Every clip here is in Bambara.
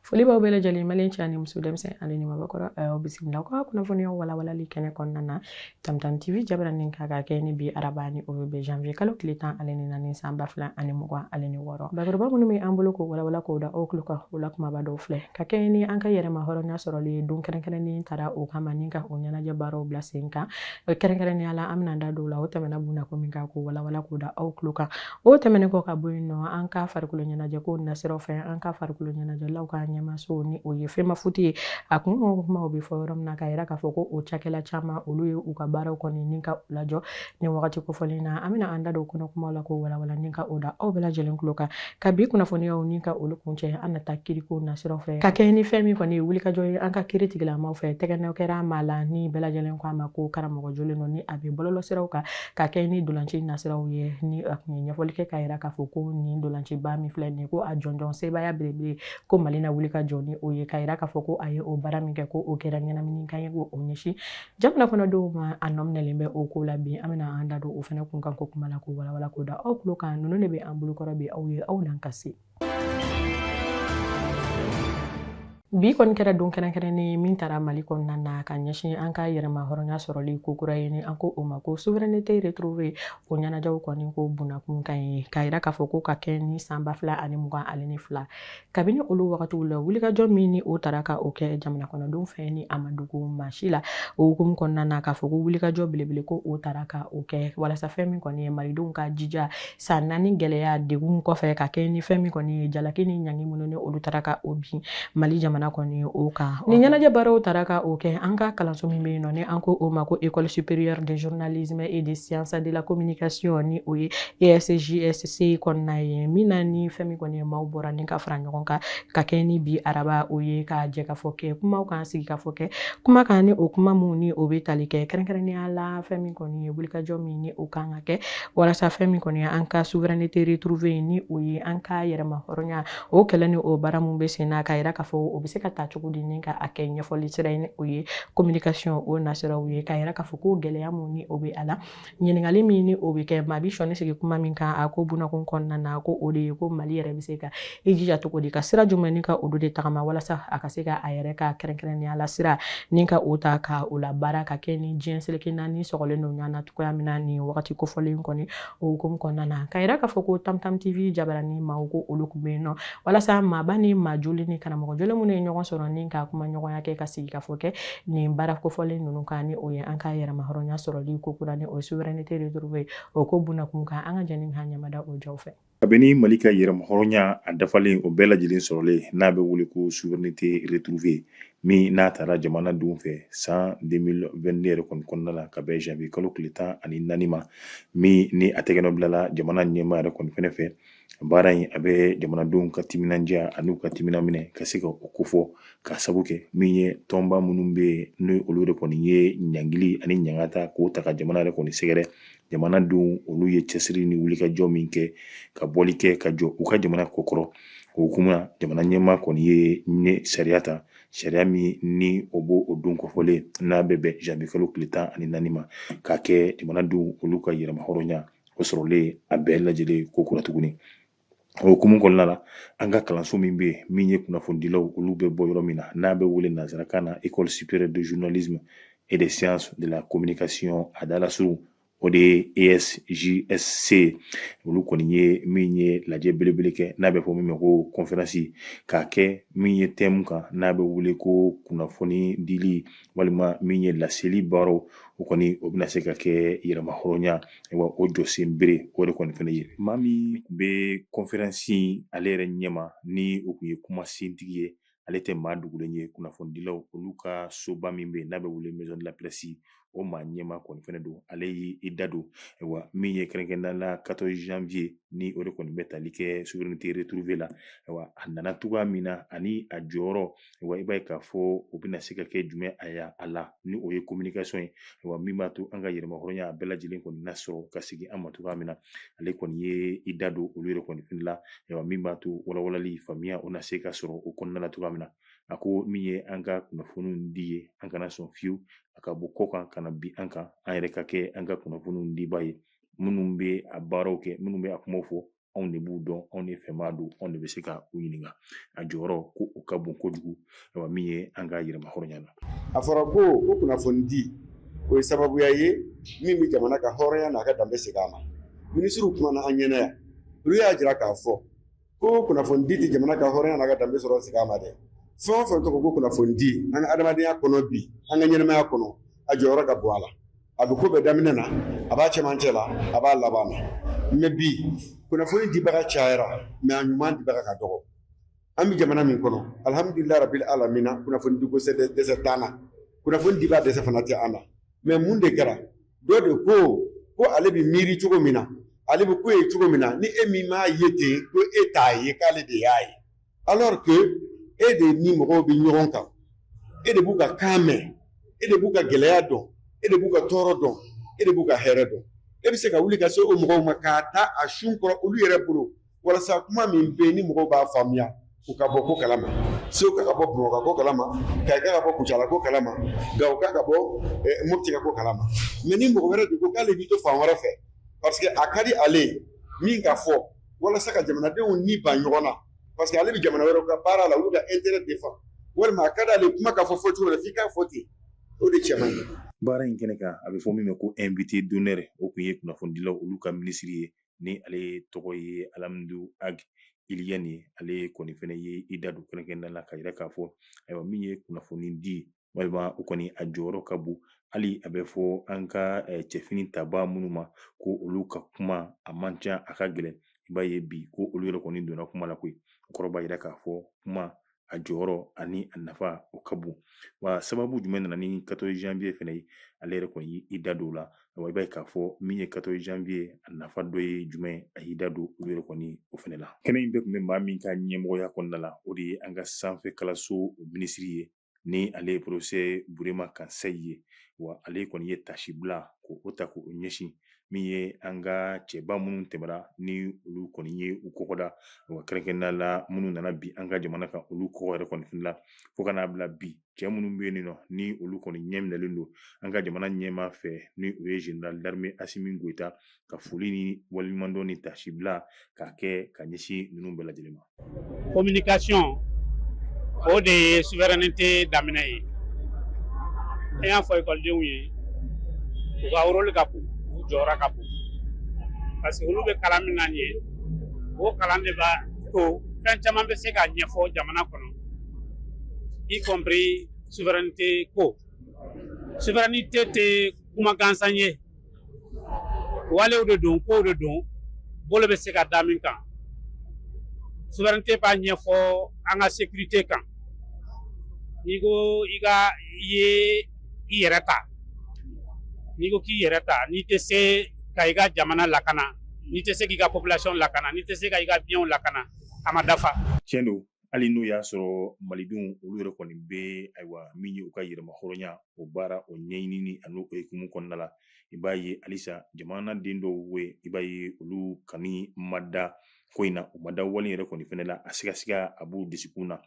foli b'aw bɛɛ lajɛlen maliyɛn cɛ ani muso denmisɛn ani maabakɔrɔ aw bisimila aw ka kunnafoniyaw walawalali kɛnɛ kɔnɔna na tamtam tv jabaranin kan ka kɛ ni bi araba ni o bɛ janvier kalo tile tan ale ni naani san ba fila ani mugan ale ni wɔɔrɔ bakuruba minnu bɛ an bolo k'o walawala k'o da aw tulo kan o la kumaba dɔw filɛ ka kɛɲɛ ni an ka yɛrɛma hɔrɔnya sɔrɔli ye don kɛrɛnkɛrɛnnen tara o kama ni ka o ɲɛnajɛ baaraw bila sen kan kɛrɛnkɛrɛnnenya la an bɛna da don la o tɛmɛna bunakun min kan k'o walawala k'o da aw tulo kan o tɛmɛnen kɔ ka bɔ yen nɔ an ka farikolo ɲɛnajɛ ko nasiraw fɛ an ka farikolo ɲɛnajɛlaw ka ɲɛmaaso ni o ye FEMAFOOT ye a kun kumaw bɛ fɔ yɔrɔ min na k'a yira k'a fɔ ko o cakɛla caman olu ye u ka baaraw kɔni ni ka u lajɔ nin wagati kofɔlen na an bɛna an da don kɔnɔ kuma la k'o walawala ni ka o da aw bɛɛ lajɛlen tulo kan ka bi kunnafoniyaw ni ka olu kuncɛ an na taa kiriko nasiraw fɛ ka kɛ ni fɛn min kɔni ye wulikajɔ ye an ka kiri tigilamaw fɛ tɛgɛnɔ kɛra maa la ni bɛɛ lajɛlen ko a ma ko karamɔgɔ jolen don ni a bɛ bɔlɔlɔsiraw kan ka kɛ ni dolanci nasiraw ye ni a kun ye ɲɛfɔli kɛ k'a yira k'a fɔ ko nin dolanciba min filɛ nin ye ko a jɔnjɔn sebaaya belebele ko mali na wuli ka jɔ ni o ye k'a yira k'a fɔ ko a ye o baara min kɛ ko o kɛra ɲɛnamini kan ye ko o ɲɛsin Jamana kɔnɔdenw ma a nɔminɛlen bɛ o ko la bi an bɛna an da don o fana kun kan ko kuma la k'o walawala k'o da aw tulo kan ninnu de bɛ an bolokɔrɔ bi aw ye aw n'an ka se bi kɔni kɛra don kɛrɛnkɛrɛnnen min tara mali kɔnɔna na ka ɲɛsin an ka yɛrɛma hɔrɔnya sɔrɔli ko kura ye ni an ko o ma ko souveraineté retrouvée o ɲɛnajɛw kɔni ko bunakun kan ye k'a yira k'a fɔ ko ka kɛ ni san ba fila ani mugan ani ni fila kabini olu wagatiw la wulikajɔ min ni o tara ka o kɛ jamana kɔnɔdenw fɛ ni a ma dogo maa si la o hukumu kɔnɔna na k'a fɔ ko wulikajɔ belebele ko o tara ka o kɛ walasa fɛn min kɔni ye malidenw ka jija san naani gɛlɛya degun kɔfɛ ka kɛ ni fɛn min kɔni ye jalaki ni ɲangi minnu ni olu tara ka o bin mali jamana kɔni o kan ni ɲɛnajɛ baaraw tara ka o kɛ an ka kalanso min bɛ yen nɔ ni an ko o ma ko école supérieure de journalisme et de sciences de la communication ni o ye ESJS C kɔnɔna ye min na ni fɛn min kɔni ye maaw bɔra ni ka fara ɲɔgɔn kan ka kɛ ni bi araba o ye ka jɛkafɔ kɛ kumaw kan sigikafɔ kɛ kuma kan ni o kuma minnu ni o bɛ tali kɛ kɛrɛnkɛrɛnnenya la fɛn min kɔni ye wulikajɔ min ni o ka kan ka kɛ walasa fɛn min kɔni ye an ka souveraineté retrouvée ni o ye an ka yɛrɛma hɔrɔnya o kɛlɛ ni o baara min bɛ sen na k'a yira k'a fɔ o bɛ se ka ta cogo di ni ka a kɛ ɲɛfɔli sira ye ni o ye communication o nasiraw ye k'a yira k'a fɔ ko gɛlɛya minnu ni o bɛ a la ɲininkali min ni o bɛ kɛ maa bi sɔnni sigi kuma min kan a ko bunakun kɔnɔna na ko o de ye ko mali yɛrɛ bɛ se ka i jija cogo di ka sira jumɛn ni ka olu de tagama walasa a ka se ka a yɛrɛ ka kɛrɛnkɛrɛnnenya la sira ni ka o ta ka o labaara ka kɛ ni diɲɛ seleke naani sɔgɔlen don ɲɔgɔn na cogoya min na nin wagati kofɔlen kɔni o hukumu kɔnɔna na k'a yira k'a fɔ ko tamtam tv jabaranin maaw ko olu tun bɛ yen nɔ walasa maaba ni maa joli ni karamɔgɔ joli minnu ye ɲɔgɔn sɔrɔ ni ka kuma ɲɔgɔnya kɛ ka sigi ka fɔ kɛ nin baara kofɔlen ninnu kan ni o ye an ka yɛrɛma hɔrɔnya sɔrɔli ko kura ni o ye souveraineté retrouvée o ko bunakun kan an ka jɛni ka ɲamada o jaw fɛ kabini mali ka yɛrɛma hɔrɔnya a dafalen o bɛɛ lajɛlen sɔrɔlen n'a bɛ wele ko souveraineté retrouvée min n'a tara jamanadenw fɛ san 2022 yɛrɛ kɔni kɔnɔna la ka bɛn janvier kalo tile tan ani naani ma min ni a tɛgɛnɔ bilala jamana ɲɛmaa yɛrɛ kɔni fɛnɛ fɛ baara in a bɛ jamanadenw ka timinandiya ani u ka timina minɛ ka se ka o kofɔ ka sabu kɛ min ye tɔnba minnu bɛ yen n'o olu de kɔni ye ɲangili ani ɲangata k'o ta ka jamana yɛrɛ kɔni sɛgɛrɛ jamanadenw olu ye cɛsiri ni wulikajɔ min kɛ ka bɔli kɛ ka jɔ u ka jamana kɔkɔrɔ o hukumu na jamana ɲɛmaa kɔni ye nin sariya ta sariya min ni o b'o don kofɔlen n'a bɛ bɛn janvier kalo tile tan ani naani ma k'a kɛ jamanadenw olu ka yɛrɛma hɔrɔnya o sɔrɔlen a bɛɛ lajɛlen ko kura tuguni o hukumu kɔnɔna la an ka kalanso min bɛ yen min ye kunnafonidilaw olu bɛ bɔ yɔrɔ min na n'a bɛ wele nanzarakan na école supérieure de journalisme et des sciences de la communication a dalasurun o de ye ESJSC olu kɔni ye min ye lajɛ belebele kɛ n'a bɛ fɔ min ma ko conférence k'a kɛ min ye thème kan n'a bɛ wele ko kunnafoni dili walima min ye laseli baaraw o kɔni o bɛna se ka kɛ yɛrɛma hɔrɔnya wa o jɔsen bere o de kɔni fɛnɛ ye maa min tun bɛ conférence ale yɛrɛ ɲɛma ni o tun ye kumasentigi ye ale tɛ maa dogolen ye kunnafonidilaw olu ka soba min bɛ yen n'a bɛ wele maison de la presse o maa ɲɛmaa kɔni fɛnɛ don ale y'i da don wa min ye kɛrɛnkɛrɛnnenya la 14 janvier ni o de kɔni bɛ tali kɛ souveraineté retrouvée la wa a nana cogoya min na ani a jɔyɔrɔ wa i b'a ye k'a fɔ o bɛna se ka kɛ jumɛn ye a la ni o ye communication ye wa min b'a to an ka yɛrɛmahɔrɔnya a bɛɛ lajɛlen kɔni na sɔrɔ ka sigi an ma cogoya min na ale kɔni ye i da don olu yɛrɛ kɔni fɛnɛ la wa min b'a to walawalali faamuya o na se ka sɔrɔ o kɔnɔna la cogoya min na a ko min ye an ka kunnafoniw di ye an kana sɔn fiyewu a ka bɔ kɔkan ka na bin an kan an yɛrɛ ka kɛ an ka kunnafoniw dibaa ye minnu bɛ a baaraw kɛ minnu bɛ a kumaw fɔ anw de b'u dɔn anw de fɛ maa don anw de bɛ se ka u ɲininka a jɔyɔrɔ ko o ka bon kojugu wa min ye an ka yɛrɛma hɔrɔnya na a fɔra ko ko kunnafoni di o ye sababuya ye min bɛ jamana ka hɔrɔnya n'a ka danbe segin a ma minisiriw kumana an ɲɛ na yan olu y'a jira k'a fɔ ko kunnafoni di tɛ jamana ka hɔrɔnya n'a ka danbe sɔrɔ segin a ma dɛ fɛn o fɛn tɔgɔ ko kunnafoni di an ka adamadenya kɔnɔ bi an ka ɲɛnamaya kɔnɔ a jɔyɔrɔ ka bon a la a bɛ ko bɛɛ daminɛ na a b'a cɛmancɛ la a b'a laban na mɛ bi kunnafoni dibaga cayara mɛ a ɲuman dibaga ka dɔgɔ an bɛ jamana min kɔnɔ alihamudulila rabil alamina kunnafoni diko dɛsɛ t'an na kunnafoni diba dɛsɛ fana tɛ an na mɛ mun de kɛra dɔ de ko ko ale bɛ miiri cogo min na ale bɛ ko ye cogo min na ni e min m'a ye ten ko e t'a ye k'ale de y'a ye alors que e de ni mɔgɔw bɛ ɲɔgɔn kan e de b'u ka kan mɛn e de b'u ka gɛlɛya dɔn e de b'u ka tɔɔrɔ dɔn e de b'u ka hɛrɛ dɔn e bɛ se ka wuli ka se o mɔgɔw ma k'a ta a sun kɔrɔ olu yɛrɛ bolo walasa kuma min bɛ yen ni mɔgɔw b'a faamuya u ka bɔ ko kalama seguka ka bɔ bamakɔ ko kalama kayika ka bɔ kucala ko kalama gawoka ka bɔ eh, mopti ka ko kalama mɛ ni mɔgɔ wɛrɛ de ko k'ale b'i to fan wɛrɛ fɛ parce que a ka di ale ye min ka fɔ walasa ka jamanadenw ni ba ɲɔgɔn na parce que ale bɛ jamana wɛrɛ ka baara la olu ka intérêt défendre walima a ka di ale kuma ka fɔ fɔ cogo la f'i k'a fɔ ten o de cɛ man ɲi baara in kɛnɛ kan a bɛ fɔ min ma ko invité d'honneur o tun ye kunnafonidilaw olu ka minisiri ye ni ale tɔgɔ ye alamudu ag iliyɛn ye ale kɔni fɛnɛ ye i da don kɛrɛnkɛrɛnnenya la ka yira k'a fɔ ayiwa min ye kunnafoni di walima o kɔni a jɔyɔrɔ ka bon hali a bɛ fɔ an ka eh, cɛfini tabaa minnu ma ko olu ka kuma a man ca a ka gɛlɛn i b'a ye bi ko olu yɛrɛ kɔni donna kuma la koyi o kɔrɔ b'a yira k'a fɔ kuma a jɔyɔrɔ ani a nafa o ka bon wa sababu jumɛn nana ni 14 janvier fana ye ale yɛrɛ kɔni y'i da don o la wa i b'a ye k'a fɔ min ye 14 janvier a nafa dɔ ye jumɛn a y'i da don olu yɛrɛ kɔni o fana la kɛnɛ in bɛɛ tun bɛ maa min ka ɲɛmɔgɔya kɔnɔna la o de ye an ka sanfɛ kalanso minisiri ye ni ale ye professeur burema kansayi ye wa ale kɔni ye tasibila k'o ta k'o ɲɛsin min ye an ka cɛba minnu tɛmɛra ni olu kɔni ye u kɔgɔ da wa kɛrɛnkɛrɛnnenya la minnu nana bi an ka jamana kan olu kɔkɔ yɛrɛ kɔni fana fo ka n'a bila bi cɛ minnu bɛ yen nɔ ni olu kɔni ɲɛ minɛlen don an ka jamana ɲɛmaa fɛ ni o ye général d'armée Asimi Goyita ka foli ni waleɲumandɔn ni tasibila k'a kɛ ka ɲɛsin ninnu bɛɛ lajɛlen ma communication o de ye souveraineté daminɛ ye an y'a fɔ ekɔlidenw ye u ka rôle ka bon u jɔyɔrɔ ka bon parce que olu bɛ kalan min na nin ye o kalan de b'a to fɛn caman bɛ se ka ɲɛfɔ jamana kɔnɔ y compris souveraineté ko souveraineté tɛ kuma gansan ye walew de don kow de don bolo bɛ se ka da min kan souveraineté b'a ɲɛfɔ an ka sécurité kan n'i ko i ka i ye i yɛrɛ ta n'i ko k'i yɛrɛ ta n'i tɛ se ka i ka jamana lakana n'i tɛ se k'i ka population lakana n'i tɛ se ka i ka bienw lakana a ma dafa. tiɲɛ don hali n'o y'a sɔrɔ malidenw olu yɛrɛ kɔni bɛ ayiwa min ye u ka yɛrɛmahɔrɔnya o baara o ɲɛɲinini ani o hukumu kɔnɔna la i b'a ye halisa jamanaden dɔw bɛ i b'a ye olu kɔni ma da ko in na u ma da wale yɛrɛ kɔni fɛnɛ la a sigasiga a b'u dusukunw na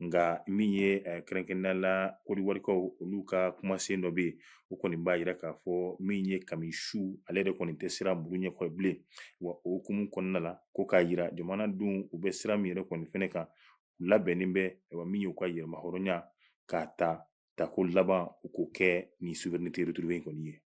nka min ye eh, kɛrɛnkɛrɛnnenya la kɔdiwarikaw olu ka kumasen dɔ bɛ yen o kɔni b'a yira k'a fɔ min ye kami su ale yɛrɛ kɔni tɛ siran muru ɲɛkɔrɔ bilen wa o hukumu kɔnɔna la ko k'a yira jamanadenw u bɛ sira min yɛrɛ kɔni fɛnɛ kan u labɛnnen bɛ wa min y'u ka yɛrɛmahɔrɔnya k'a ta tako laban u k'o kɛ ni souveraineté retrouvée in kɔni ye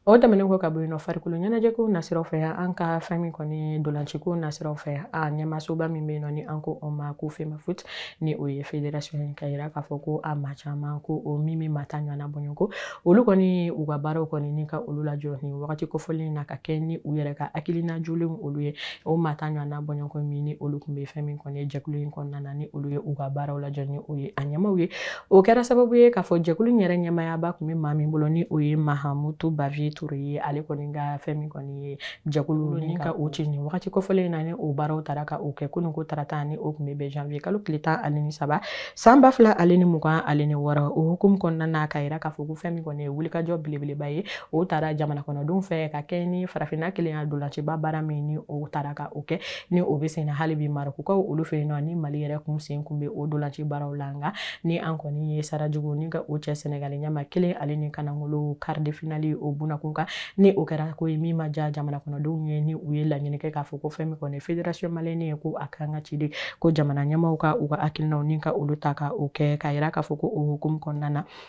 O tɛmɛnen kɔ ka bɔ yen nɔ farikolo ɲɛnajɛko nasiraw fɛ an ka fɛn min kɔni dolanciko nasiraw fɛ a ɲɛmasoba min bɛ yen nɔ ni an ko o ma ko FEMAFOOT ni o ye federasiɔn ye ka yira k'a fɔ ko a maa caman ko o min bɛ maa tan ɲɔgɔn n'a bɔɲɔgɔnko olu kɔni u ka baaraw kɔni ni ka olu lajɔ ni wagati kofɔlen na ka kɛ ni u yɛrɛ ka hakilina jɔlenw olu ye o maa tan ɲɔgɔn n'a bɔɲɔgɔn min ni olu tun bɛ fɛn min kɔni ye jɛkulu in kɔnɔna na ni olu ye u ka baaraw lajɔ ni o ye a ɲɛmaaw ye o kɛra sababu ye k'a fɔ jɛkulu in yɛrɛ ɲɛmaayaba tun bɛ maa min bolo ni o ye mahamutu baviye ture ye ale kɔni ka fɛn min kɔni ye jɛkulu ni ka o ci nin wagati kofɔlen in na ni o baaraw taara ka o kɛ kunun ko tarata ni o tun bɛ bɛn janvier kalo tile tan ani ni saba san ba fila ale ni mugan ale ni wɔɔrɔ o hukumu kɔnɔna na k'a yira k'a fɔ ko fɛn min kɔni ye wulikajɔ belebeleba ye o taara jamana kɔnɔdenw fɛ ka kɛ ni farafinna kelenya dolanciba baara min ni o taara ka o kɛ ni o bɛ sen na hali bi marɔkukaw olu fɛ yen nɔ ni mali yɛrɛ kun sen kun bɛ o dolanci baaraw la nka ni an kɔni ye sarajugu ni ka o cɛ sɛnɛgali ɲɛma kelen ale ni kanangolo quart de finale o bunakun kan ni o kɛra ko ye min ma diya jamana kɔnɔdenw ye ni u ye laɲini kɛ k'a fɔ ko fɛn min kɔni fédération malienne ye ko a kan ka ci de ko jamana ɲɛmaaw ka u ka hakilinaw ni ka olu ta ka o kɛ k'a yira k'a fɔ ko o hukumu kɔnɔna na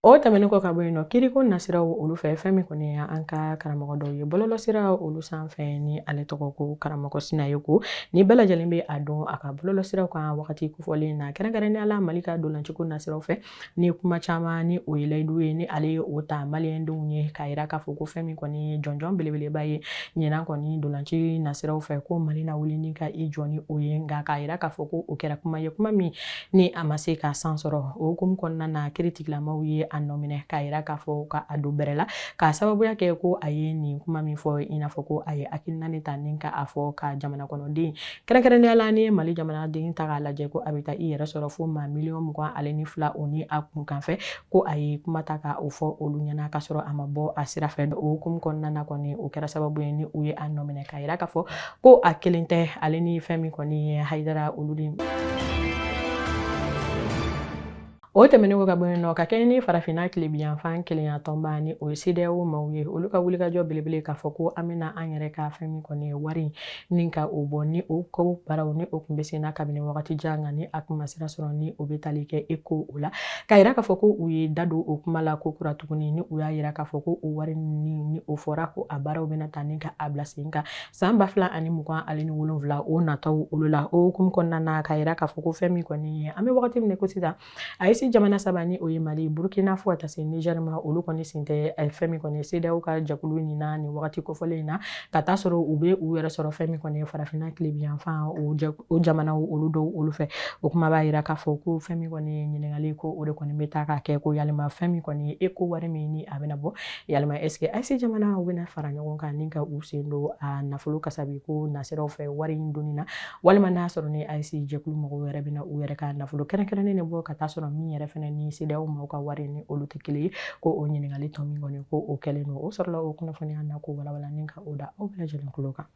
O tɛmɛnen kɔ ka bɔ yen nɔ kiriko nasiraw olu fɛ fɛn min kɔni ye an ka karamɔgɔ dɔw ye bɔlɔlɔsira olu sanfɛ ni ale tɔgɔ ko karamɔgɔ sinayɔkɔ ni bɛɛ lajɛlen bɛ a dɔn a ka bɔlɔlɔsiraw kan wagati kofɔlen na kɛrɛnkɛrɛnnenya la mali ka dolanciko nasiraw fɛ ni kuma caman ni o ye layidu ye ni ale ye o ta maliyɛndenw ye k'a yira k'a fɔ ko fɛn min kɔni ye jɔnjɔn belebeleba ye ɲinan kɔni dolanci nasiraw fɛ ko mali na wuli ni ka i jɔ ni o ye nka k'a yira k'a fɔ ko o kɛra kuma ye kuma min Ni a ma se ka san sɔrɔ o hukumu kɔnɔna na kiritigilamaw ye a nɔ minɛ k'a yira k'a fɔ ka a don bɛrɛ la k'a sababuya kɛ ko a ye nin kuma min fɔ i n'a fɔ ko a ye hakilina ne ta ni ka a fɔ ka jamana kɔnɔden kɛrɛnkɛrɛnnenya la ni mali jamanaden taa k'a lajɛ ko a bɛ taa i yɛrɛ sɔrɔ fo maa miliyɔn mugan ale ni fila o ni a kunkanfɛ ko a ye kuma ta ka o fɔ olu ɲɛna k'a sɔrɔ a ma bɔ a sira fɛ o hukumu kɔnɔna na kɔni o kɛra sababu ye ni u ye a nɔ minɛ k'a yira k'a fɔ ko a kelen tɛ ale ni fɛn min kɔni ye hayidara olu de o tɛmɛnen kɔ ka bɔ yen nɔ ka kɛɲɛ ni farafinna tilebinyanfan kelenya tɔnba ni o ye sedeyawo maaw ye olu ka wulikajɔ belebele k'a fɔ ko an bɛna an yɛrɛ ka fɛn min kɔni ye wari ni ka o bɔ ni o ko baaraw ni o kun bɛ sen na kabini wagati jan nka ni a kun ma sira sɔrɔ ni o bɛ tali kɛ eko o la k'a yira k'a fɔ ko u ye da don o kuma la ko kura tuguni ni u y'a yira k'a fɔ ko o wari ni o fɔra ko a baaraw bɛna taa ni ka a bila sen kan san ba fila ani mugan ale ni wolonwula o nataw olu la o hukumu kɔnɔna na k'a yira k'a fɔ ko fɛn min kɔni ye an bɛ wagati min na ko sisan ayise jamana saba ni o ye mali burukina fo ka taa se nizɛri ma olu kɔni sen tɛ fɛn min kɔni ye sedaw ka jɛkulu nin na nin wagati kofɔlen in na ka taa sɔrɔ u bɛ u yɛrɛ sɔrɔ fɛn min kɔni ye farafinna tilebiyanfan o jamanaw olu dɔw olu fɛ o kuma b'a yira k'a fɔ ko fɛn min kɔni ye ɲininkali ko o de kɔni bɛ taa k'a kɛ ko yalima fɛn min kɔni ye eko wari min ni a bɛna bɔ yalima est ce que ayise jamana u bɛna fara ɲɔgɔn kan ni ka u sen don a nafolo kasabi ko nasiraw fɛ wari in donni na walima n'a sɔrɔ ni ayise jɛkulu mɔgɔw yɛrɛ bɛna u yɛrɛ ka nafolo kɛrɛnkɛrɛnnen de bɔ ka taa sɔrɔ min yɛrɛ fana ni sedaw maaw ka wari ni olu tɛ kelen ye ko o ɲininkali tɔ min kɔni ko o kɛlen don o sɔrɔla o kunnafoniya na ko walawala ni ka o da aw bɛɛ lajɛlen kulo kan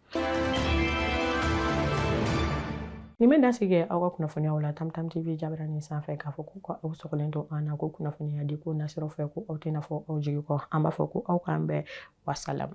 nin bɛ dan sigi aw ka kunnafoniyaw la tamtam tv jabaranin sanfɛ k'a fɔ ko aw sɔgɔlen to an na ko kunnafoniya di ko nasiraw fɛ ko aw tɛna fɔ aw jigi kɔ an b'a fɔ ko aw k'an bɛn wasalamu